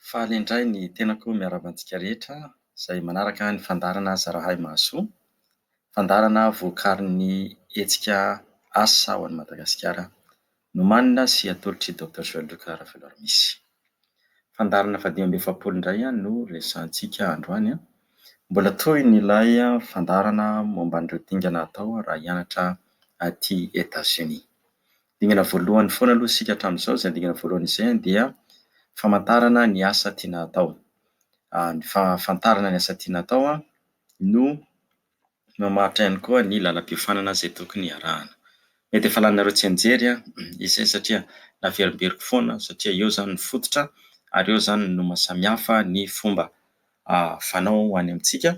Faly indray ny tenako miarahaba antsika rehetra izay manaraka ny fandaharana Aza Rahay Mahasoa. Fandaharana vokarin'ny hetsika Asa ho an'i Madagasikara nomanina sy atolotr'i Docteur Joël Luc Raveloarmisy. Fandaharana fahadimy amby efapolo indray no resahantsika androany an! Mbola tohiny ilay fandaharana momba an'ireo dingana atao raha hianatra aty Etats-Unis. Dingana voalohany foana aloha isika hatramin'izao, izay dingana voalohany izay dia famantarana ny asa tiana atao. Ny fahafantarana ny asa tiana atao no mamaritra ihany koa ny lalam-piofanana izay tokony hiarahana. Mety efa laninareo tsianjery izay satria naverimberiko foana satria eo izany ny fototra ary eo izany no maha samihafa ny fomba fanao ho any amintsika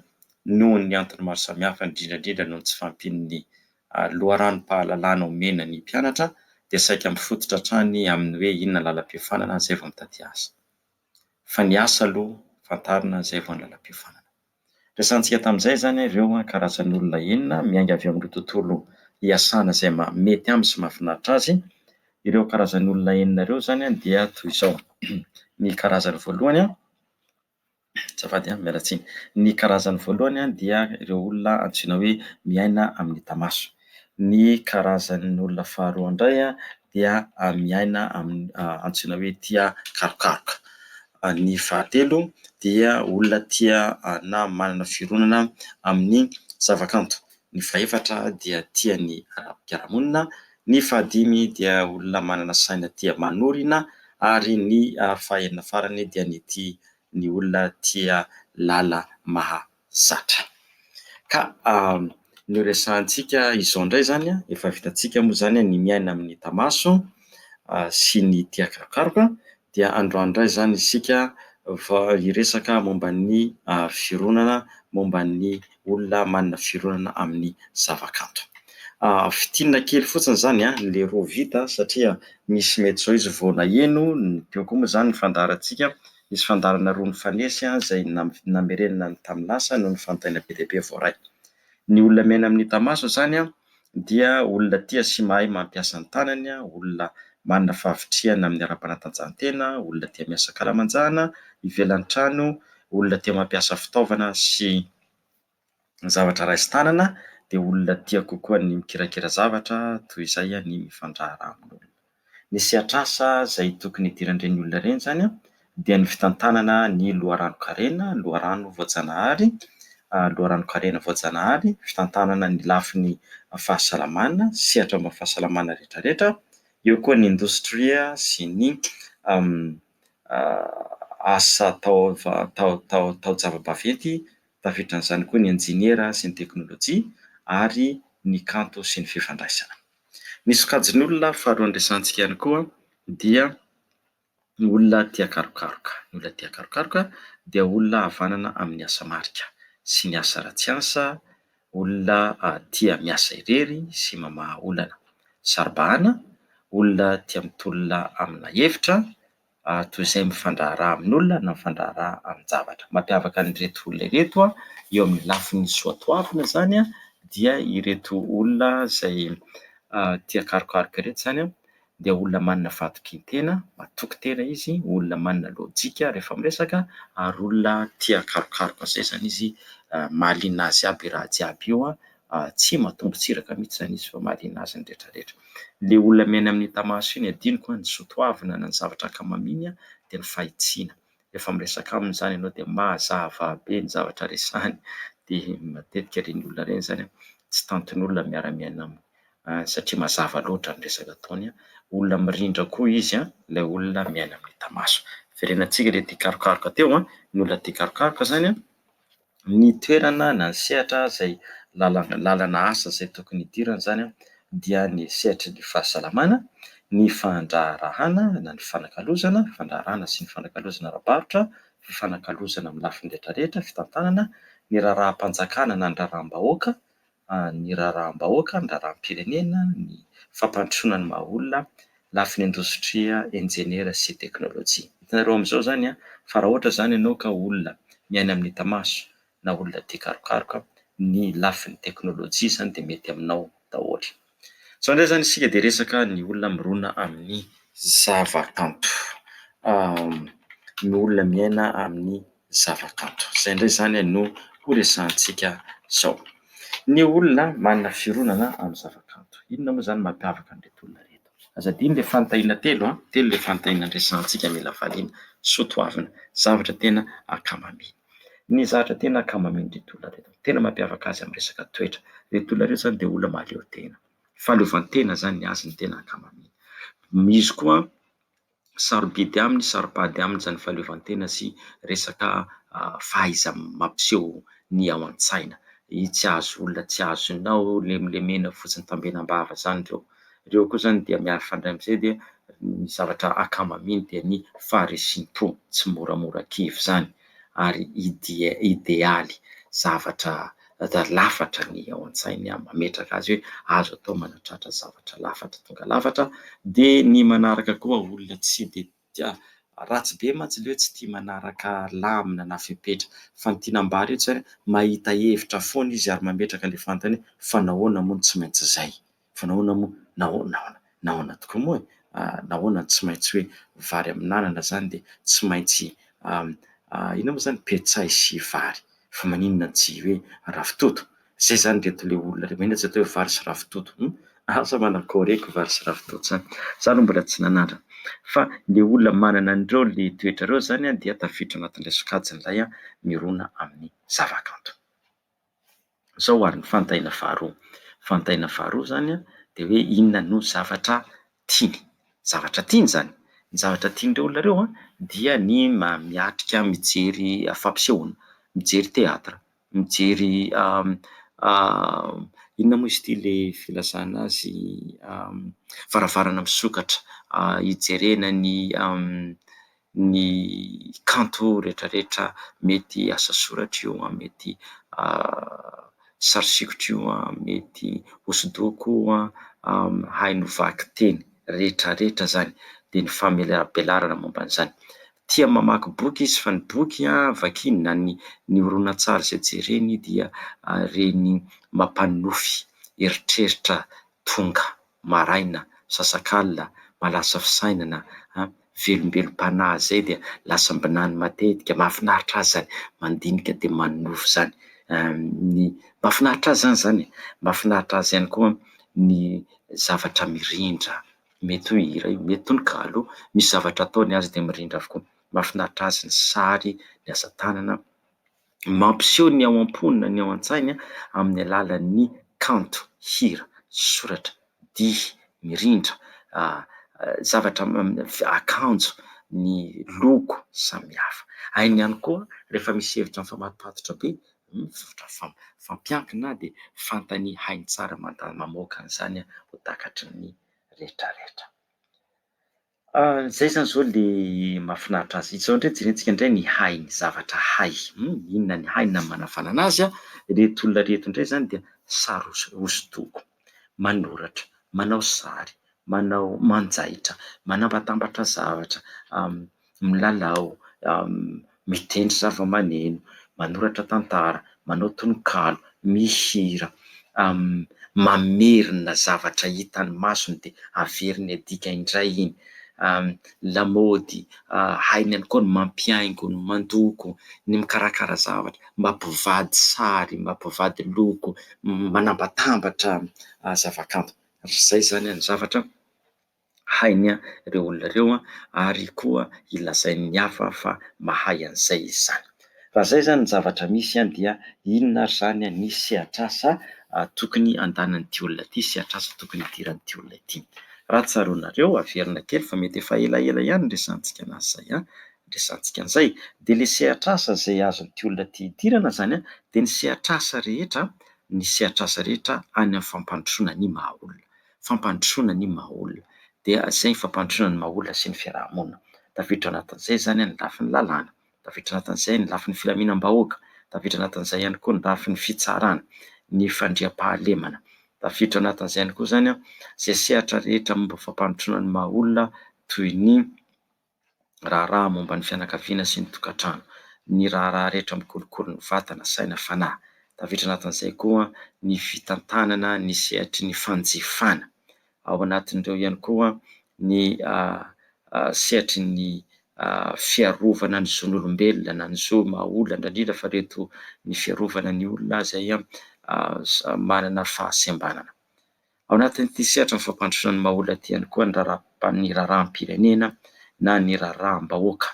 noho ny antony maro samihafa indrindra indrindra noho ny tsy fahampian'ny loharanom-pahalalana omena ny mpianatra dia saika mifototra hatrany amin'ny hoe inona ny lalam-piofanana izay vao mitaty asa fa ny asa aloha fantarina izay vao ny lalam-piofanana resahantsika tamin'izay izany ireo karazan'olona enina miainga avy amin'ireo tontolo iasana izay mety aminy sy mahafinaritra azy ireo karazan'olona enina ireo izany dia toy izao ny karazany voalohany Azafady a, miala tsiny. Ny karazany voalohany dia ireo olona antsoina hoe miaina amin'ny tamaso. Ny karazan'ny olona faharoa indray dia miaina amin'ny antsoina hoe tia karokaroka. Ny fahatelo dia olona tia na manana fironana amin'ny zavakanto. Ny fahefatra dia tia ny ara-piarahamonina. Ny fahadimy dia olona manana saina tia manorina ary ny fahenina farany dia ny tia ny olona tia lala mahazatra. Ka ny horesahantsika izao indray izany an, efa vitantsika moa izany ny miaina amin'ny tamaso sy ny tia karokaroka dia androany indray izany isika vao hiresaka momba ny fironana, momba ny olona manana fironana amin'ny zavakanto. Fintinina kely fotsiny izany ilay roa vita satria misy mety izao izy vao naheno ny teo koa moa izany ny fandaharantsika, nisy fandaharana roa nifanesy izay namerenana ny tamin'ny lasa no nifantaina be dia be voaray. Ny olona miaina amin'ny Tamaso izany an, dia olona tia sy mahay mampiasa ny tanany, olona manana fahavitrihana amin'ny ara-panatanjahantena, olona tia miasa ankalamanjana, ivelan'ny trano, olona tia mampiasa fitaovana sy zavatra raisin-tanana, dia olona tia kokoa ny mikirakira zavatra, toy izay ny mifandraharaha amin'olona. Ny sehatr'asa izay tokony hidiran'ireny olona ireny izany an, dia ny fitantanana ny loharanon-karena, loharano voajanahary, loharanon-karena voajanahary, fitantanana ny lafiny fahasalamana, sehatra momba ny fahasalamana rehetrarehetra, eo koa ny indostria sy ny asa taon-java-baventy, tafiditra amin'izany koa ny injeniera sy ny teknolojia ary ny kanto sy ny fifandraisana. Ny sokajin'olona faharoa andresantsika ihany koa dia ny olona tia karokaroka. Ny olona tia karokaroka dia olona havanana amin'ny asa marika sy ny asa ratsy asa, olona tia miasa irery sy mamaha olana. Saro-bahana, olona tia mitolona amina hevitra toy izay mifandraharaha amin'olona na mifandraharaha amin-javatra. Mampiavaka an'ireto olona ireto eo amin'ny lafiny soatoavina izany dia ireto olona izay tia karokaroka ireto izany dia olona manana fahatokian-tena, matoky tena izy, olona manana lojika rehefa miresaka ary olona tia karokaroka izay izany izy, mahaliana azy aby io raha jiaby io. tsy matombo tsiraka mihitsy izany izy fa mahaliana azy ny retraretra. Ilay olona miaina amin'iny tamaso iny adinoko ny zo toavina na ny zavatra ankamaminy dia ny fahitsiana. Rehefa miresaka aminy izany ianao dia mazava be ny zavatra resahiny dia matetika ireny olona ireny izany tsy tantin'olona miara miaina aminy satria mazava loatra ny resaka ataony. Olona mirindra koa izy ilay olona miaina amin'ny tamaso. Verenantsika ilay tia karokaroka teo, ny olona tia karokaroka izany an! Ny toerana na ny sehatra izay lalana lalana asa izay tokony hidirana izany dia ny sehatry ny fahasalamana, ny fandraharahana na ny fanakalozana, fandraharahana sy ny fanakalozana ara-barotra, fifanakalozana amin'ny lafiny rehetra rehetra, fitantanana, ny raharaham-panjakana na ny raharaham-bahoaka, ny raharaham-bahoaka, ny raharaham-pirenena, ny fampandrosoana ny maha olona, lafiny indostria, injeniera sy teknolojia. Hitanareo amin'izao izany fa raha ohatra izany ianao ka olona miaina amin'ny hita maso na olona tia karokaroka, ny lafiny teknolojia izany dia mety aminao daholo. Zao ndray zany isika dia resaka ny olona mirona amin'ny zava-kanto. Ny olona miaina amin'ny zava-kanto. Izay ndray zany no ho resahantsika zao. Ny olona manana fironana amin'ny zava-kanto. Inona moa zany no mampiavaka an'ireto olona ireto? Aza adino le fanontaniana telo an, telo le fanontaniana resahantsika mila valiana soa toavina, zavatra tena ankamabe. Ny zatra tena kamo amin'ireto olona ireto, tena mampiavaka azy amin'ny resaka toetra, ireto olona ireto izany dia olona mahaleo tena, fahaleovantena izany ny azy no tena ankamaminy. Misy koa sarobidy aminy, saropady aminy izany fahaleovantena sy resaka fahaiza-mampiseho ny ao an-tsaina. Tsy azo olona tsy azo inona hono, lemlemena fotsiny, tambenam-bava izany ireo. Ireo koa izany dia miaro fandray amin'izay dia ny zavatra akama amin dia ny faharesim-po tsy moramora kivy izany ary idealy zavatra lafatra ny ao an-tsainy mametraka azy hoe azo atao manatratra zavatra lafatra tonga lafatra dia ny manaraka koa olona tsy dia dia ratsy be mantsy le hoe tsy tia manaraka lamina na fepetra fa ny tiana ambara etsy hoe mahita hevitra foana izy ary mametraka le fantany hoe fa nahoana moa no tsy maintsy zay? fa nahoana moa? nahoana? nahoana? nahoana tokoa moa e? nahoana no tsy maintsy hoe vary amin'anana zany dia tsy maintsy inona moa zany petsay sy vary? fa maninona tsy hoe ravitoto? Zay izany reto le olona le mahina tsy atao hoe vary sy ravitoto hum asa manakoreko vary sy ravitoto zany za aloha mbola tsy nanandrana fa le olona manana an'ireo le toetra ireo zany an dia tafiditra anatin'ilay sokajin'ilay mirona amin'ny zavakanto zao ary ny fantaina faharoa fantaina faharoa zany an dia hoe inona no zavatra tiany. Zavatra tiany izany. Ny zavatra tian'ireo olona ireo dia ny miatrika mijery fampisehoana, mijery théâtre, mijery inona moa izy ity ilay filazana azy varavarana misokatra hijerena ny ny kanto retraretra mety asa soratra io an, mety sary sikotra io an, mety hosodoko io an, haino vaky teny retraretra zany de ny famelabelarana momba an'izany. Tia mamaky boky izy fa ny boky an vakiny na ny ny horonantsary zay jereny dia reny mampanonofy eritreritra tonga maraina, sasakalina, malasa fisainana, an, velombelom-panahy izay dia lasam-binany matetika, mahafinaritra azy izany, mandinika dia manonofy izany, ny, mahafinaritra azy izany izany e! mahafinaritra azy ihany koa ny zavatra mirindra, mety ho hira io, mety tononkalo, misy zavatra ataony azy dia mirindra avokoa, mahafinaritra azy ny sary, ny asa tanana. mampiseho ny ao am-pony na ny ao an-tsainy amin'ny alalan'ny kanto, hira, soratra, dihy, mirindra, zavatra akanjo, ny loko samihafa. Hainy ihany koa rehefa misy hevitra mifamatopatotra be, fampiankina dia fantany hainy tsara mamoaka an'izany ho takatry ny rehetra rehetra. Izay izany izao ilay mahafinaritra azy. Izao indray jerentsika indray ny hain'ny zavatra hay. Inona ny hainy na ny manavanana azy an? Ireto olona ireto indray izany dia sary hosodoko, manoratra, manao sary, manao manjaitra, manabatambatra zavatra, milalao, mitendry zavamaneno, manoratra tantara, manao tononkalo, mihira, mamerina zavatra hitan'ny masony dia averiny adika indray iny, lamaody, hainy ihany koa ny mampihaingo, ny mandoko, ny mikarakara zavatra, mampivady sary, mampivady loko, manambatambatra zavakanto. Izay izany ny zavatra. hainy ireo olona ireo ary koa hilazain'ny hafa fa mahay an'izay izy izany. Raha izay izany ny zavatra misy dia inona ary izany ny sehatr'asa tokony andanan'ity olona ity, sehatr'asa tokony hidiran'ity olona ity? Raha tsaroanareo, averina kely fa mety efa elaela ihany ny resahantsika anazy izay, ny resahantsika an'izay, dia ilay sehatr'asa izay azon'ity olona ity hidirana izany dia ny sehatr'asa rehetra, ny sehatr'asa rehetra any amin'ny fampandrosoana ny maha olona. fampandrosoana ny maha-olona. Dia izay ny fampandrosoana ny maha-olona sy ny fiaraha-monina. Tafiditra ao anatin'izay izany ny lafiny lalàna, tafiditra anatin'izay ny lafiny filaminam-bahoaka, tafiditra anatin'izay ihany koa ny lafiny fitsarana, ny fandriampahalemana. Tafiditra anatin'izay ihany koa izany izay sehatra rehetra momba fampandrosoana ny maha-olona toy ny raharaha momba ny fianakaviana sy ny tokantrano, ny raharaha rehetra mikolokolo ny vatana, saina, fanahy. Tafiditra anatin'izay koa ny fitantanana ny sehatry ny fanjifana. Ao anatin'ireo ihany koa ny sehatry ny fiarovana ny zon'olombelona na ny zo maha olona, indrindra indrindra fa ireto ny fiarovana ny olona izay manana fahasembanana. Ao anatin'ity sehatra ny fampandrosoana ny maha-olona ity ihany koa ny raharaha, ny raharaham-pirenena na ny raharaham-bahoaka.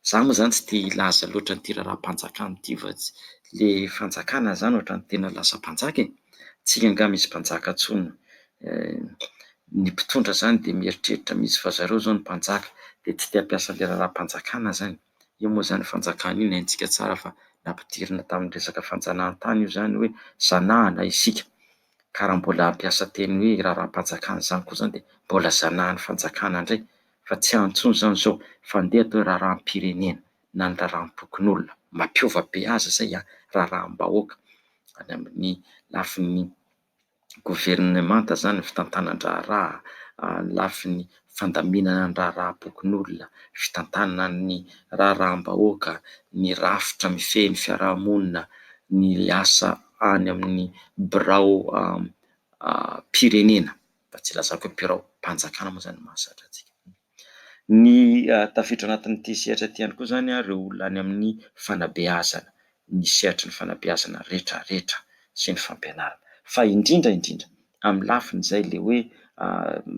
Izaho moa izany tsy tia hilaza loatra an'ity raharaham-panjakana ity fa tsy, ilay fanjakana izany ohatran'ny tena lasa mpanjaka e! Tsy angaha misy mpanjaka intsony. Ny mpitondra izany dia mieritreritra mihitsy fa zareo izao no mpanjaka, dia tsy te hampiasa ilay raharaham-panjakana izany. Io moa izany fanjakana io ny haintsika tsara fa nampidirina tamin'ny resaka fanjanahantany io izany hoe zanahana isika. ka raha mbola hampiasa teny hoe raharaham-panjakana izany koa izany dia mbola zanahan'ny fanjakana indray fa tsy ampy intsony izany izao fa ndeha atao hoe raharaham-pirenena na ny raharaham-pokonolona, mampiova be azy izay an! raharaham-bahoaka any amin'ny lafiny governemanta izany ny fitantanan-draharaha, ny lafiny fandaminana ny raharaham-pokonolona, fitantanana ny raharaham-bahoaka, ny rafitra mifehy ny fiarahamonina, ny asa any amin'ny biraom-pirenena, mba tsy ilazako hoe biraom-panjakana moa izany no mahazatra antsika. Ny tafiditra anatin'ity sehatra ity ihany koa izany ireo olona any amin'ny fanabeazana, ny sehatry ny fanabeazana rehetrarehetra sy ny fampianarana, fa indrindra indrindra amin'ny lafiny izay ilay hoe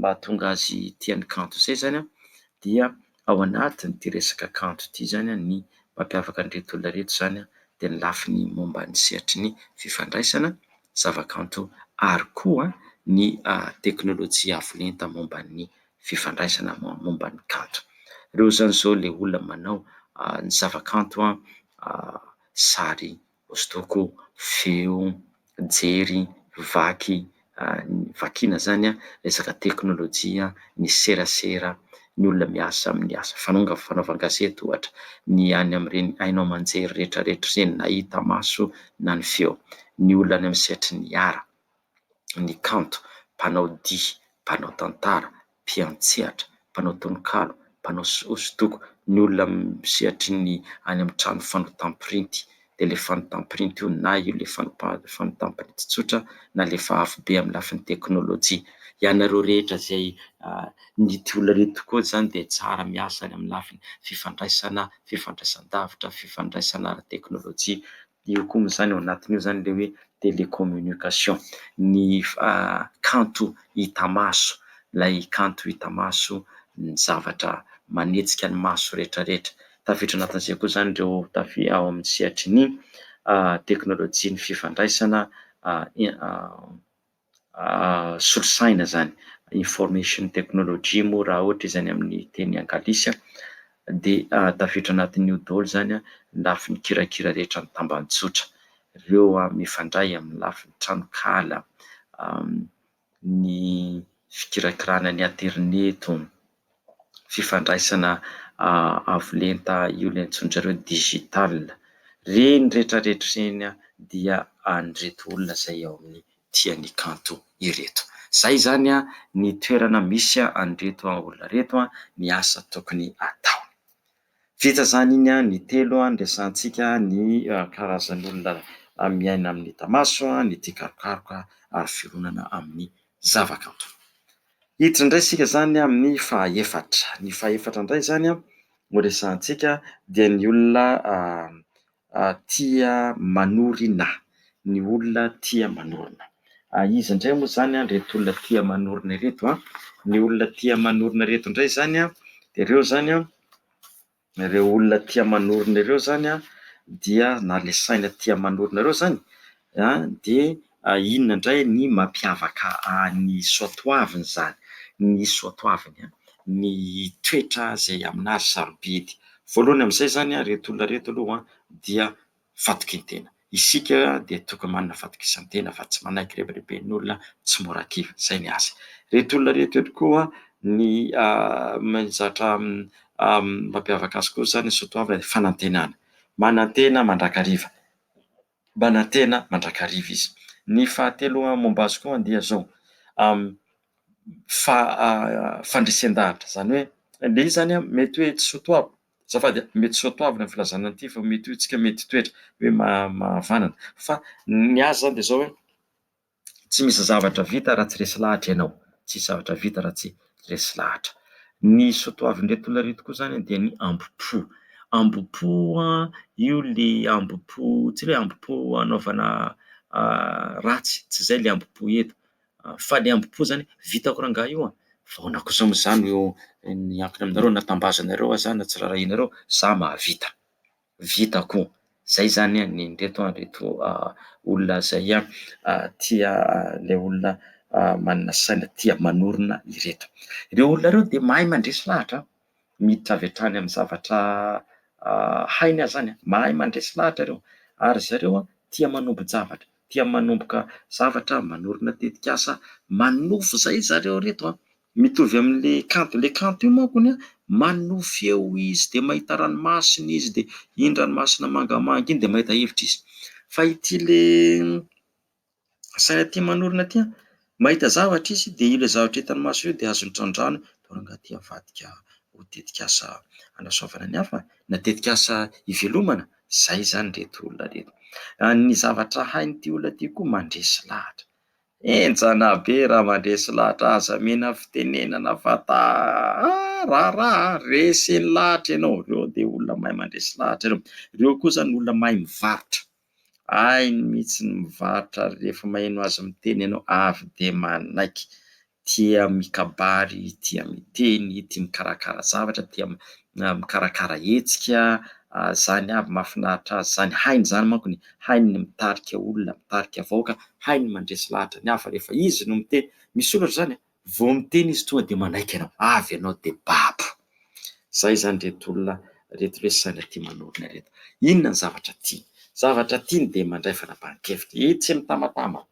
mahatonga azy tia ny kanto izay izany dia ao anatin'ity resaka kanto ity izany ny mampiavaka an'ireto olona ireto izany dia ny lafiny momba ny sehatry ny fifandraisana, zavakanto ary koa ny teknolojia avo lenta momba ny fifandraisana momba ny kanto. Ireo izany izao ilay olona manao ny zavakanto sary Hosodoko, feo, jery, vaky, vakiana izany an, resaka teknolojia, ny serasera, ny olona miasa amin'ny asa fanonga, fanaovan-gazety ohatra, ny any amin'ireny haino aman-jery rehetra rehetra ireny na hita maso na ny feo, ny olona any amin'ny sehatry ny art. ny kanto, mpanao dihy, mpanao tantara, mpiantsehatra, mpanao tononkalo, mpanao hosodoko, ny olona amin'ny sehatry ny any amin'ny trano fanotam-pirinty, dia ilay fanotam-pirinty io na io ilay fanotam-pirinty tsotra na ilay efa avo be amin'ny lafiny teknolojia. Ianareo rehetra izay nitia olona ireny tokoa izany dia tsara miasa any amin'ny lafiny fifandraisana, fifandraisan-davitra, fifandraisana ara-teknolojia Eo koa amin'izany, ao anatin'io izany ilay hoe télécommunication, ny kanto hita maso, ilay kanto hita maso, ny zavatra manetsika ny maso rehetra rehetra. Tafiditra ao anatin'izay koa izany ireo tafi- ao amin'ny sehatry ny teknolojian'ny fifandraisana solosaina izany, information technology moa raha ohatra izany amin'ny teny anglisy dia tafiditra anatin'io daholo izany ny lafiny kirakira rehetra ny tambajotra. Ireo mifandray amin'ny lafiny tranonkala, ny fikirakirana ny aterineto. fifandraisana avo lenta io ilay antsoin'dry zareo hoe digital. Ireny rehetra rehetra ireny dia an'ireto olona izay ao amin'ny Tia ny kanto ireto. Izay izany ny toerana misy an'ireto olona ireto, ny asa tokony ataony. Vita izany iny an! ny telo an! resahantsika ny karazan'olona miaina amin'ny tamaso, ny tia karokaroka ary fironana amin'ny zavakanto. Hiditra indray isika izany amin'ny fahefatra. Ny fahefatra indray izany an! no resahantsika dia ny olona tia manorina, ny olona tia manorina. Iza indray moa izany ireto olona tia manorina ireto an? Ny olona tia manorina ireto indray izany an, dia ireo izany an, ireo olona tia manorina ireo izany an, dia na ilay saina tia manorina ireo izany Dia inona indray ny mampiavaka ny soatoaviny izany? Ny soatoaviny an, ny toetra izay amin'azy sarobidy. Voalohany amin'izay izany an, ireto olona ireto aloha dia fatokian-tena. Isika dia tokony manana fatokisan-tena fa tsy manaiky hirebireben'olona, tsy mora kivy. Izay ny azy. Ireto olona ireto ihany koa ny mahazatra mampiavaka azy koa izany ny soatoaviny dia fanantenana. Manantena mandrakariva. manantena mandrakariva izy. Ny fahatelo momba azy koa dia izao, fandresen-dahatra, izany hoe ilay izy izany mety hoe tsy soatoavina, azafady, mety soatoavina ny filazana an'ity fa mety ho isika mety toetra hoe mahavanana fa ny azy izany dia izao hoe Tsy misy zavatra vita raha tsy resy lahatra ianao, tsy misy zavatra vita raha tsy resy lahatra. Ny soatoavin'ireto olona ireto koa izany dia ny ambo-po. Ambo-po io ilay ambo-po tsy hoe ambo-po hanaovana ratsy, tsy izay ilay ambo-po eto fa ilay ambo-po izany vitako rangahy io, ahoana kosa moa izany no miankina aminareo na tambazanareo aza na tsy raharahianareo, izaho mahavita. vita ko zay zany an ny reto an reto olona zay an tia le olona manana saina tia manorina ireto ireo olona ireo de mahay mandresy lahatra an miditra avy hatrany amin'ny zavatra hainy aza zany an mahay mandresy lahatra ireo ary zareo an tia manombo-javatra tia manomboka zavatra manorina tetikasa manofy zay zareo reto an Mitovy amin'le kanto, le kanto io manko ny manohy feo izy dia mahita ranomasina izy dia iny ranomasina mangamanga iny dia mahita hevitra izy, fa ity le saina aty manorina aty an, mahita zavatra izy dia io le zavatra hitany maso io dia azony trandrahana dia ranga aty avadika ho tetikasa hanasoavana ny hafa na tetikasa hivelomana, zay zany reto olona reto, ny zavatra hain'ity olona ity koa mandresy lahatra. Enjana be raha mandresy lahatra aza mena fitenenana fa ta a raharaha a! Resiny lahatra ianao, ireo dia olona mahay mandresy lahatra ireo, ireo koa izany olona mahay mivarotra, hainy mihitsy ny mivarotra ary rehefa maheno azy miteny ianao avy dia manaiky, tia mikabary, tia miteny, tia mikarakara zavatra, tia mikarakara hetsika, zany avy mahafinaritra azy zany, hainy zany manko ny hainy ny mitarika olona, mitarika vahoaka, hainy mandresy lahatra ny hafa rehefa izy no miteny, misy olona ohatran'izany a, vao miteny izy tonga dia manaiky anao, avy ianao dia babo, zay zany ireto olona ireto lesy saina tia manorina ireto, inona ny zavatra tiany, zavatra tiany dia mandray fanapahan-kevitra, etsy mitambantambana.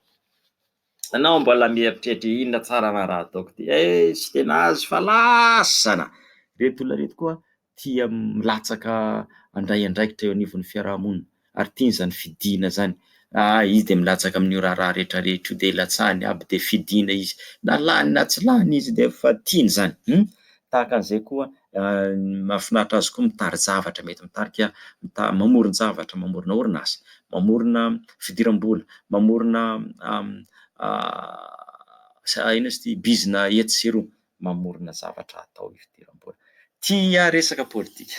Ianao mbola mieritreritra inona tsara raha raha ataoko ty eh tsy dia nahazo fa lasana! Ireto olona ireto koa tia milatsaka handray andraikitra eo anivon'ny fiarahamonina ary tiany izany fidiana izany, ah izy dia milatsaka amin'io raharaha rehetra rehetra io dia ilatsahany aby dia fidiana izy na lany na tsy lany izy dia efa tiany izany, hum Tahaka an'izay koa, mahafinaritra azy koa mitari-javatra, mety mitarika, mamoron-javatra, mamorona orinasa, mamorona fidiram-bola, mamorona inona izy ity, bizina etsy sy eroa, mamorona zavatra hatao hidiram-bola. Tia resaka politika.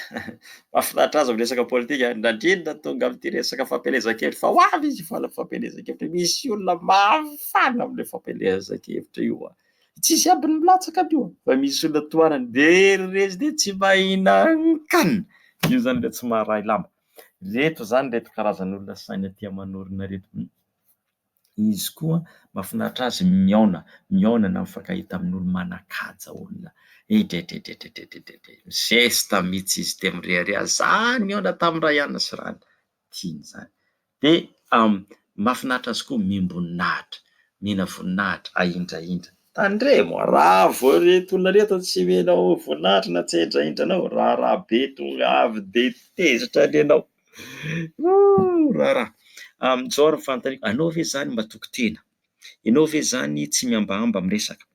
Mahafinaritra azy miresaka politika, na indrindra tonga amin'ity resaka fampielezan-kevitra fa ho avy izy hifaly amin'ny fampielezan-kevitra, misy olona mahafaly amin'ilay fampielezan-kevitra io. Tsisy ambiny milatsaka io fa misy olona tohanany very rezy dia tsy mahinan-kan io zany le tsy maharay lamba. Reto zany reto karazan'olona saina tia manorina reto mihitsy. Izy koa mafinaritra azy mihaona, mihaona na mifankahita amin'olo manan-kaja olona. Edredredredredredredre. Mizesta mihitsy izy dia mirehareha zany mihaona tamin'ny ray anany sy rany. Tiany zany. Dia mahafinaritra azy koa miam-boninahitra, mihena voninahitra, ahindrahindra. Tandremo, raha vao ireto olona ireto tsy omenao voninahitra na tsy ahindrahindra anao, raharaha be tonga avy dia tezitra ny anao. Ohh raharaha. Amin'izao ary ny fanontaniako, anao ve izany matoky tena? Ianao ve izany tsy mihambahamba miresaka?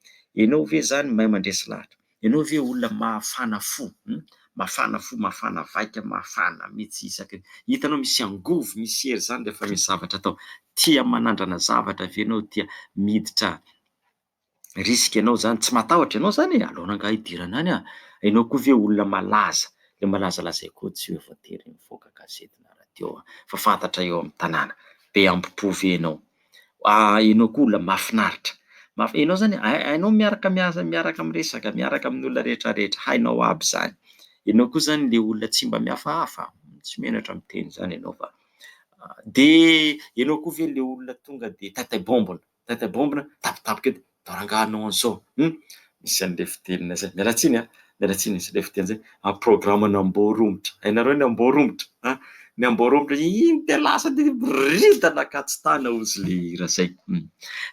Ianao ve izany mahay mandresy lahatra? Ianao ve olona mafana fo hum? Mafana fo, mafana vaika, mafana mihitsy isaky ny hitanao misy angovo, misy hery izany rehefa misy zavatra atao. Tia manandrana zavatra ve ianao? Tia miditra. risque anao zany, tsy matahotra ianao zany e, aleo angaha hidirana any an, ianao koa ve olona malaza, le malaza lazay koa tsy hoe voatery mivoaka gazety na radio an, fa fantatra eo amin'ny tanàna, be hambom-po ve ianao, ah ianao koa olona mahafinaritra, maf- ianao zany hainao miaraka miasa miaraka miresaka miaraka amin'ny olona rehetra rehetra, hainao aby zany, ianao koa zany le olona tsy mba mihafahafa, tsy menatra miteny zany ianao fa, de ianao koa ve le olona tonga de tataim-bombony. Tata Bombina tapitapika edy atao rangahy anao any sao hum misy anle fitenina zay miala tsiny a miala tsiny misy anle fiteny zay am programme ny amboa romotra hainareo ny amboa romotra a ny amboa romotra iny de lasa de miboridana akatsy tana ozy le hira zay hum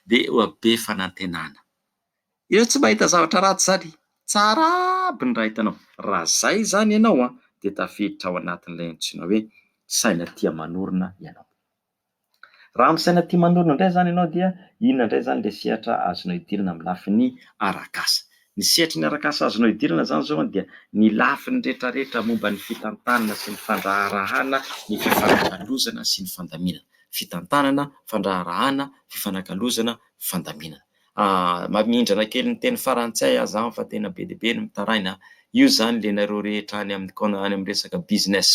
de oa be fanantenana ireo tsy mahita zavatra ratsy zany tsara aby ny raha hitanao raha zay zany ianao a de tafiditra ao anatinle antsoina hoe saina tia manorina ianao. Raha misaina tia manorina indray izany ianao dia inona indray izany ilay sehatra azonao idirana amin'ny lafiny arak'asa? Ny sehatry ny arak'asa azonao idirana izany izao dia ny lafiny rehetrarehetra momba ny fitantanana sy ny fandraharahana ny fifanakalozana sy ny fandaminana. Fitantanana, fandraharahana, fifanakalozana, fandaminana. Mamindrana kely ny teny farantsay aza aho fa tena be dia be ny mitaraina. Io izany ilainareo rehetra any amin'ny resaka business,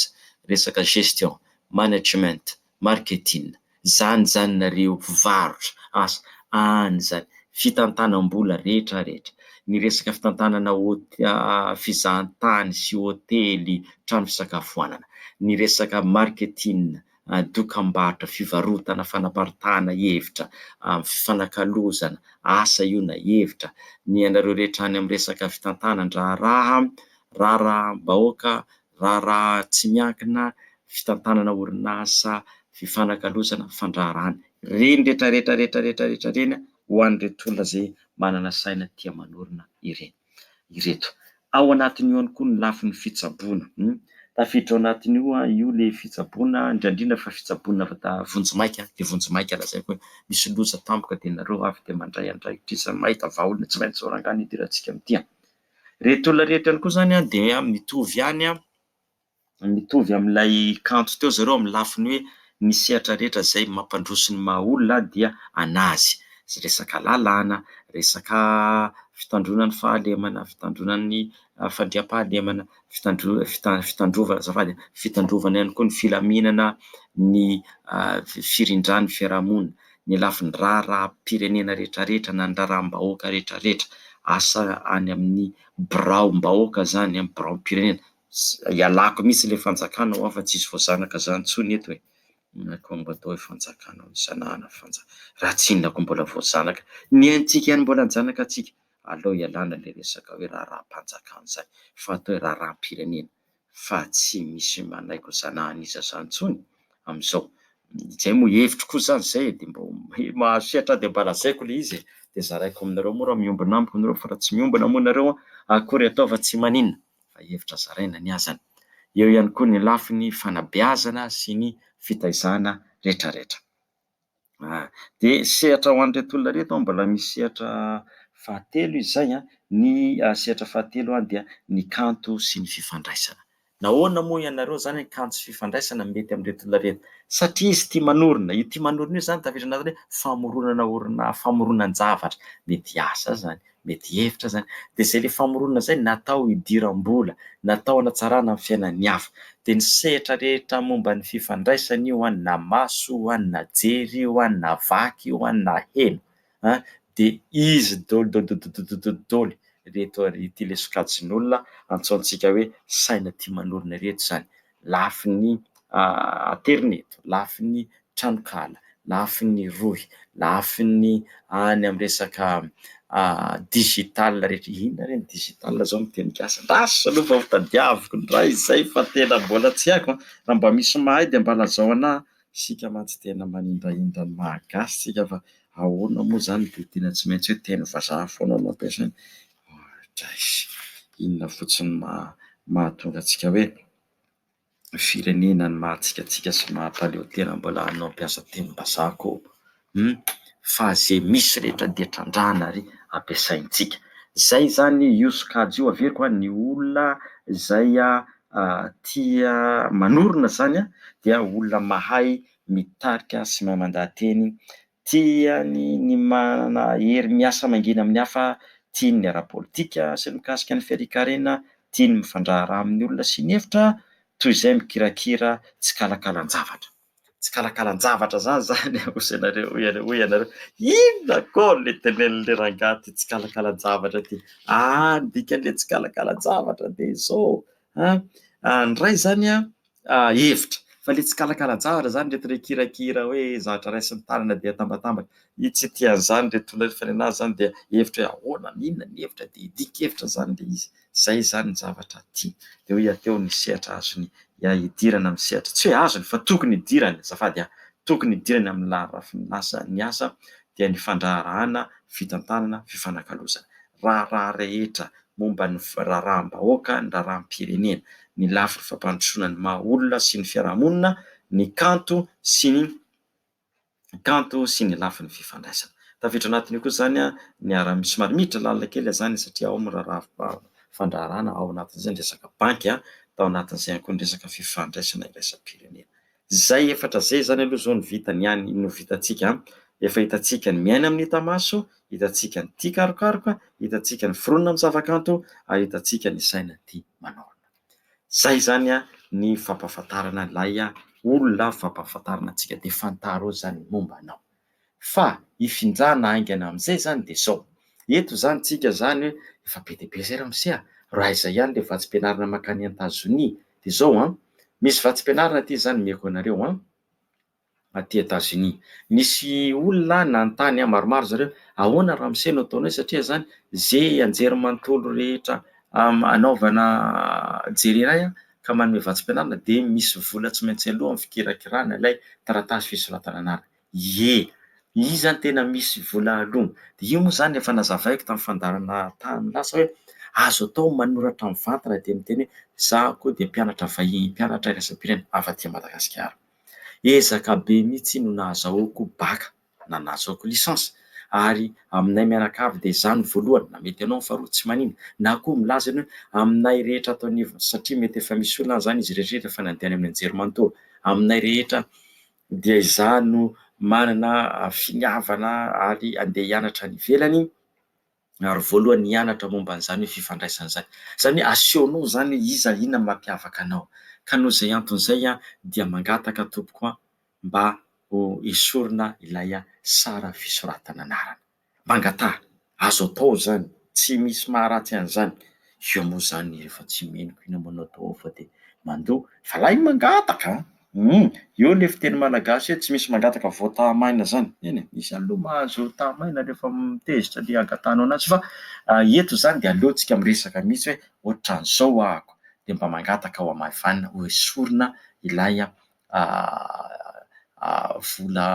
resaka gestion. management, marketing, zany zany nareo mpivarotra asa any zany fitantanam-bola rehetra rehetra ny resaka fitantanana fizahantany sy hotely trano fisakafoanana ny resaka marketing dokambarotra fivarotana fanaparitahana hevitra fifanakalozana asa io na hevitra ny anareo rehetra any amin'ny resaka fitantanan-draharaha raharaham-bahoaka raharaha tsy miankina fitantanana orinasa fifanakalozana fandraharahana. Ireny rehetra rehetra rehetra rehetra rehetra ireny ho an'ireto olona izay manana saina tia manorina ireny ireto. Ao anatin'io ihany koa ny lafiny fitsaboana. Tafiditra ao anatin'io io ilay fitsaboana, indrindra indrindra fa fitsaboana avy ta vonjimaika, dia vonjimaika lazaiko hoe misy loza tampoka dia nareo avy dia mandray andraikitra isan'ny mahita vahaolana tsy maintsy zao rangahy no hidirantsika amin'ity an! Ireto olona ireto ihany koa izany dia mitovy ihany, mitovy amin'ilay kanto teo ry zareo amin'ny lafiny hoe ny sehatra rehetra izay mampandroso ny maha olona dia an'azy. Resaka lalàna, resaka fitandroana ny fahalemana, fitandroana ny fandriampahalemana, fitandro- fita- fitandrovana, azafady a, fitandrovana ihany koa ny filaminana, ny firindran'ny fiarahamonina. ny lafiny raharaham-pirenena rehetrarehetra na ny raharaham-bahoaka rehetrarehetra, asa any amin'ny biraom-bahoaka izany, amin'ny biraom-pirenena, ialako mihitsy ilay fanjakana hoa fa tsy hisy voazanaka izany intsony eto e, koa mba atao hoe fanjakana hono, sanahana fanjakana, raha tsy inona koa mbola voazanaka, ny aintsika ihany mbola hanjanaka antsika, aleo ialana ilay resaka hoe raharaham-panjakana izany fa atao hoe raharaham-pirenena. fa tsy misy manaiky zana hanisa zany intsony amin'izao, izay moa hevitro koa zany izay e, dia mba mahazo sehatra aho dia mba lazaiko ilay izy e, dia zaraiko aminareo moa raha miombona amiko nareo fa raha tsy miombona moa nareo akory ataova tsy maninona fa hevitra zaraina ny azany, eo ihany koa ny lafiny fanabeazana sy ny fitaizana retraretra. Ah, dia sehatra ho an'ireto olona ireto an, mbola misy sehatra fahatelo izy izay an, ny sehatra fahatelo an dia ny kanto sy ny fifandraisana. Nahoana moa ianareo izany ny kanto sy fifandraisana no mety amin'ireto olona ireto? Satria izy tia manorina, io tia manorina io izany tafiditra anatin'ny hoe famoronana orinasa, famoronan-javatra, mety hiasa izany. Mety hihevitra izany. Dia izay ilay famoronana izay natao hidiram-bola, natao hanatsarana ny fiainan'ny hafa. Dia ny sehatra rehetra momba ny fifandraisana io an, na maso io an, na jery io an, na vaky io an, na heno an, dia izy doly dodododododododol ireto ary ity ilay sokajin'olona antsointsika hoe saina tia manorina ireto izany. lafiny aterineto, lafiny tranonkala, lafiny rohy, lafiny any amin'ny resaka digital rehetra. Inona re ny digital izao no teny gasy? Lasa aloha vao tadiaviko indray izay fa tena mbola tsy haiko an! Raha mba misy mahay dia mba lazao ana. Isika mantsy tena manindrahindra ny maha gasy isika fa ahoana moa izany dia tena tsy maintsy hoe teny vazaha foana no ampiasaina. Bangladesy. Inona fotsiny no maha mahatonga antsika hoe firenena ny mahatsikantsika sy mahampaleo tena mbola hanao mpiasa tenim-bazaha koa hum fa ze misy rehetra dia trandrahana ary ampiasaintsika zay izany io sokajy io averiko a ny olona izay tia manorina izany dia olona mahay mitarika sy mahay mandaha-teny Tiany ny manana hery miasa mangina amin'ny hafa, tiany ny ara-politika sy ny mikasika ny fiarian-karena, tiany ny mifandraharaha amin'ny olona sy ny efitra, toy izay mikirakira tsikalakalan-javatra. Tsikalakalan-javatra zany zany a, hozy anareo, hoy ianareo, hoy ianareo, inona kô le tenenin'le rangahy ty tsikalakalan-javatra ty? Aa ny dikan'le tsikalakalan-javatra de izao, An, ny iray izany an, hevitra, fa ilay tsikalakalan-javatra izany, ireto ilay kirakira hoe zavatra raisin'ny tanana dia atambatambaka, i tsy tia an'izany, ireto olona ireto fanenana izany dia hevitra hoe ahoana, an, inona ny hevitra, dia dikan-kevitra izany ilay izy, izay izany ny zavatra tiany, dia hoe aty ao ny sehatra azony hidirana amin'ny sehatra, tsy hoe azony fa tokony hidirany, azafady an, tokony hidirany amin'ny laharafiny lasa ny asa dia ny fandraharahana, fitantanana, fifanakalozana. raharaha rehetra momba ny raharaham-bahoaka, ny raharaham-pirenena, ny lafiny fampandrosoana ny maha olona sy ny fiarahamonina, ny kanto sy ny kanto sy ny lafiny fifandraisana. Tafiditra anatin'io koa izany ny ara, somary miditra lalina kely aho izany satria ao amin'ny raharaha fandraharahana, ao anatin'izay ny resaka banky, tao anatin'izay ihany koa ny resaka fifandraisana iraisam-pirenena. Zay efatra zay zany aloha zao ny vitany ihany no vitantsika an! Efa hitantsika ny miaina amin'ny hita maso, hitantsika ny tia karokaroka, hitantsika ny foronina amin'ny zavakanto ary hitantsika ny saina tia manaorina. Zay zany an ny fampahafantarana ilay olona fampahafantarana antsika dia fantaro zany momba anao. Fa hifinjana haingana amin'izay izany dia izao, eto izany tsika izany hoe efa be dia be izay ramose a! raha izay ihany ilay vatsim-pianarana mankany Etazonia dia izao an! misy vatsim-pianarana aty izany omeko anareo an! aty Etazonia misy olona nanontany ahy maromaro zareo ahoana ramose no ataonao satria izany ze anjerimanontolo rehetra anaovana jerenay an! ka manome vatsim-pianarana dia misy vola tsy maintsy aloa amin'ny fikirakirana ilay taratasy fisoratana anarana. Ie, izy zany tena misy vola alogny, de io moa zany efa nazavaiko tamin'ny fandaharana tany lasa hoe azo atao ny manoratra mivantana de miteny hoe izaho koa dia mpianatra vahiny, mpianatra iraisam-pirenena avy aty Madagasikara. Ezaka be mihitsy no nahazahoako bacc na nahazahoako licence ary aminay mianakavy dia izaho no voalohany, na mety ianao no faharoa tsy manina, na koa milaza ny hoe aminay rehetra ato anivon'ny satria mety efa misy olona any izany izy irery rehefa nandeha any amin'ny anjerimanontolo, aminay rehetra dia izaho no manana finiavana ary handeha hianatra any ivelany ary voalohany hianatra momba an'izany hoe fifandraisana izany. Izany hoe asehonao izany hoe iza, inona no mampiavaka anao. Ka noho izay antony izay aho dia mangataka tompoko mba ho esorina ilay sary fisoratana anarana. mangataha, azo atao izany, tsy misy maharatsy an'izany, eo moa izany rehefa tsy mino koa ianao manao atao ao fa dia mandoa, fa lay ny mangataka a, um eo ilay fiteny malagasy hoe tsy misy mangataka voataha maina izany, eny e, misy aloha mahazo taha maina rehefa mitezitra le hangatahanao an'azy fa eto izany dia aleontsika miresaka mihitsy hoe ohatran'izao ahako dia mba mangataka ao am' Ivan hoesorina ilay vola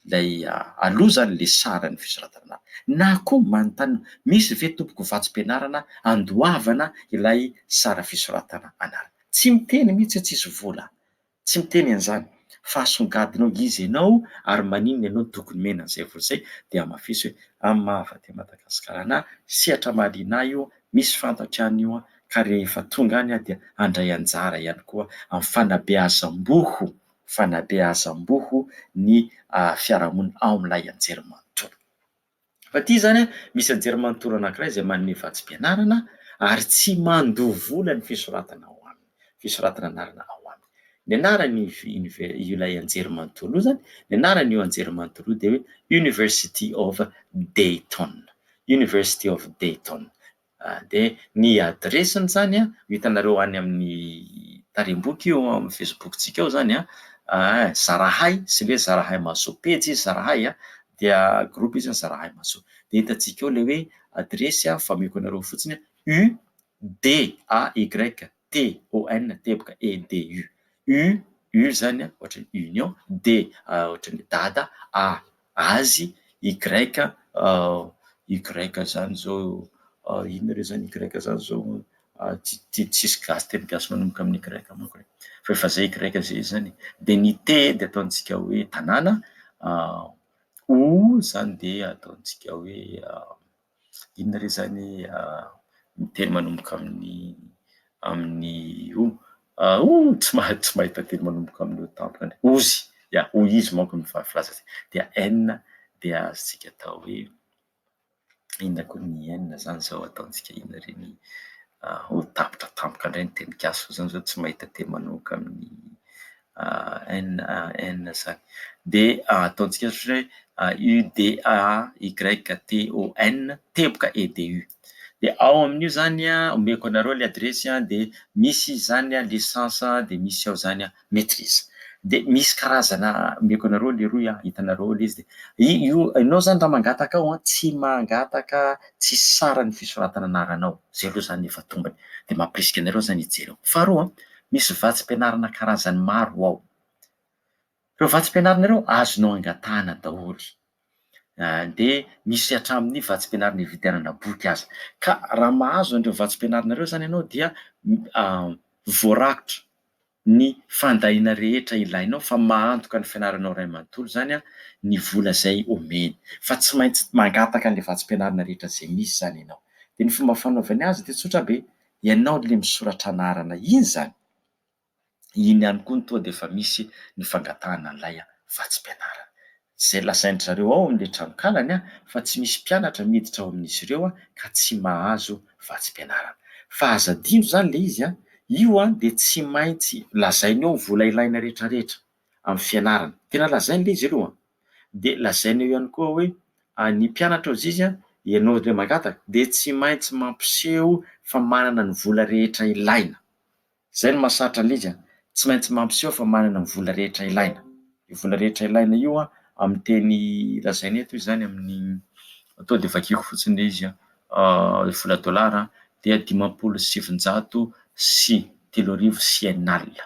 ilay aloha izany ilay saran'ny fisoratana anaty na koa manontany hoe misy ve tompoko vatsim-pianarana andoavana ilay sary fisoratana anarana? Tsy miteny mihitsy hoe tsisy vola, tsy miteny an'izany fa asongadinao iza ianao ary maninona ianao tokony omena an'izay vola izay dia hamafiso hoe amin'ny maha avy aty Madagasikara anah, sehatra mahaliana ahy io Misy fantatro ihany io an, ka rehefa tonga any aho dia handray anjara ihany koa amin'ny fanabeazam-boho, fanabeazam-boho ny fiarahamonina ao amin'ilay anjerimanontolo. Fa ity izany an, misy anjerimanontolo anankiray izay manome vatsim-pianarana ary tsy mandoa vola ny fisoratana ao aminy. fisoratana anarana ao aminy. Ny anarany ilay anjery manontolo io zany, ny anarany io anjery manontolo io de hoe University of Dayton, University of Dayton. Ah, de ny adiresiny zany an, ho hitanareo any amin'ny tarem-boky io amin'ny Facebook-tsika ao zany an, ah, Zarahay, sy le Zarahay Mahasoa, pejy izy Zarahay an, dia groupe izy Zarahay Mahasoa. De hitantsika ao le hoe adiresy an, fa omeko anareo fotsiny an, U D-A-Y-T-O-N, teboka, E-D-U. U, U izany ohatran'ny union, D ohatran'ny dada, A azy, Y Y izany izao inona re izany Y izany izao? Tsy tsisy gasy teny gasy manomboka amin'ny Y manko e. Fa efa izay Y izay izy izany e. Dia ny T dia ataontsika hoe tanàna, O izany dia ataontsika hoe. Inona re izany ny teny manomboka amin'ny amin'ny o? Oh! tsy mahay tsy mahita teny manomboka amin'ny o tampoka ny ozy, ya hoy izy manko ny filaza azy dia n dia azontsika atao hoe inona koa ny n izany izao ataontsika inona re ny o tapitra tampoka indray ny tenin-kazo fa zany zao tsy mahita teny manomboka amin'ny ANAN zany de ataontsika ohatra hoe UDAYTON teboka EDU de ao amin'io zany a omeko anareo le adiresy a de misy zany a licence de misy ao zany a maitrise de misy karazana omeko anareo leroy a hitanareo ao le izy de i- io enao zany raha mangataka ao a tsy mangataka tsisy saran'ny fisoratana anaranao zay aloha zany efa tombony de mampirisika anareo zany hijery ao faharoa Misy vatsim-pianarana karazany maro ao. Ireo vatsim-pianarana ireo azonao angatahana daholo, dia misy hatramin'ny vatsim-pianarana ividianana boky aza. Ka raha mahazo an'ireo vatsim-pianarana ireo izany ianao dia voarakitra ny fandahiana rehetra ilainao fa mahantoka ny fianaranao iray manontolo izany ny vola izay omeny. Fa tsy maintsy mangataka an'ilay vatsim-pianarana rehetra izay misy izany ianao. Dia ny fomba fanaovany azy dia tsotra be, Ianao le misoratra anarana iny zany? Iny ihany koa ny toa dia efa misy ny fangatahana an'ilay vatsim-pianarana. Izay lazain-dry zareo ao amin'ilay tranonkalany fa tsy misy mpianatra miditra ao amin'izy ireo ka tsy mahazo vatsim-pianarana. Fa aza adino izany ilay izy, io dia tsy maintsy lazainy ao ny vola ilaina rehetrarehetra. amin'ny fianarana. Tena lazainy le izy aloha, de lazainy eo ihany koa hoe ny mpianatra azizy a, ianao indray mangataka de tsy maintsy mampiseho fa manana ny vola rehetra ilaina. Zay no mahasarotra an'le izy a, tsy maintsy mampiseho fa manana ny vola rehetra ilaina. Io vola rehetra ilaina io a, amin'ny teny lazainy eto izy zany amin'ny, to de vakiako fotsiny le izy a, vola dolara dia dimampolo sy sivinjato sy telo arivo sy enina alina.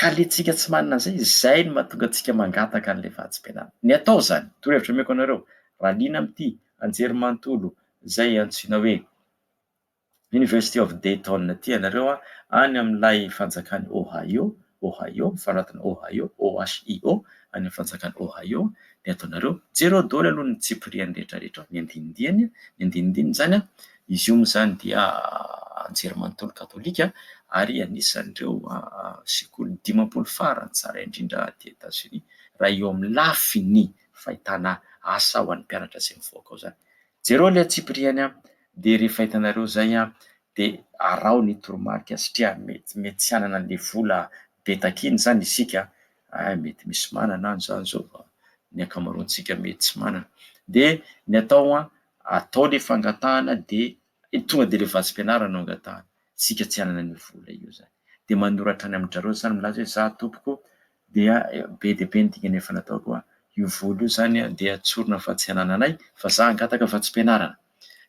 Ka le tsika tsy manana zay, zay no mahatonga antsika mangataka an'le fahatsimpenana. Ny atao zany, torohevitra omeko anareo, raha liana amin'ity anjerimanontolo zay antsoina hoe University of Dayton ity ianareo an, any amin'ilay fanjakan'i Ohio, Ohio, mifanonatana Ohio, OHIO, any amin'ny fanjakan'i Ohio, dia ataonareo, jereo daholo aloha ny tsipiriany rehetrarehetra ao, ny andinindihany, ny andinindininy zany an, Izy io moa izany dia anjerimanontolo katolika ary anisan'ireo sekoly dimampolo farany tsara indrindra aty Etazonia raha eo amin'ny lafiny fahitana asa ho an'ny mpianatra izay mivoaka ao izany. Jereo ilay antsipiriany dia rehefa hitanareo izay dia araho ny toromarika satria mety mety tsy hanana an'ilay vola be takiana izany isika, hay mety misy manana any izany izao fa ny ankamaroantsika mety tsy manana. Dia ny atao atao le fangatahana de tonga de le vatsim-pianarana no angatahana, isika tsy hanana an'io vola io zany, de manoratra any amin-dRareo zany milaza hoe za tompoko dia be dia be ny dingana efa nataoko hoa, io vola io zany dia tsorina fa tsy hanananay fa za hangataka vatsim-pianarana,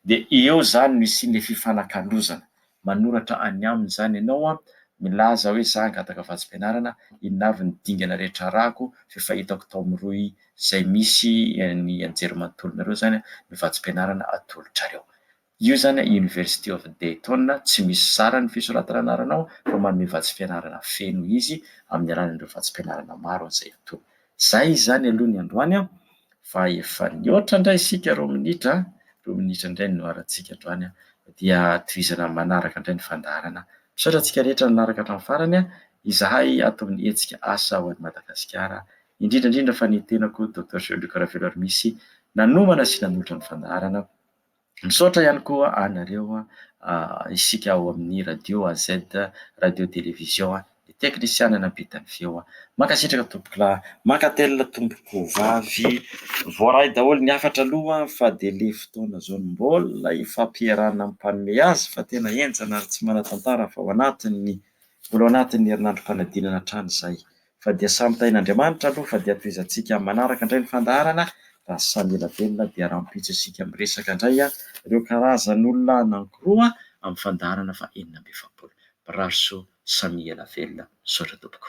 de eo zany no hisian'le fifanakalozana. manoratra any aminy izany ianao an, milaza hoe za hangataka vatsim-pianarana, inona avy ny dingana rehetra arahako, f'efa hitako tao amin'ny rohy izay misy ny anjerimanontolonareo izany an, ny vatsim-pianarana atolotrareo. Io izany an, University of Dayton, tsy misy zara ny fisoratana anaranao fa manome vatsim-pianarana feno izy amin'ny alalan'ireo vatsim-pianarana maro izay atolony. Izay izany aloha ny androany an! Fa efa nihoatra indray isika roa minitra an! Roa minitra indray no nihoarantsika androany an! Dia tohizana manaraka indray ny fandaharana. Misaotra antsika rehetra nanaraka hatramin'ny farany an! Izahay ato amin'ny hetsika Asa ho an'i Madagasikara, indrindra indrindra fa ny tenako Docteur Géo Luc Raveloarimisy nanomana sy nanolotra ny fandaharana, Misaotra ihany koa anareo isika ao amin'ny radio AZ radio télévision ny teknisiana nampita ny feo. Mankasitraka tompokolahy, mankatelina tompokovavy. Voaray daholo ny hafatra aloha fa dia le fotoana zao no mbola hifampiarahana mpanome azy fa tena henjana ary tsy manatantara fa ho anatin'ny mbola ho anatin'ny herinandrom-panadinana hatrany zay. Fa dia samy tahin'Andriamanitra aloha fa dia tohizantsika amin'ny manaraka indray ny fandaharana raha samy ela velona dia rahampitso isika miresaka indray ireo karazan'olona anankiroa amin'ny fandaharana faha enina amby efapolo. Mirary soa samia ela velona misaotra tompoko.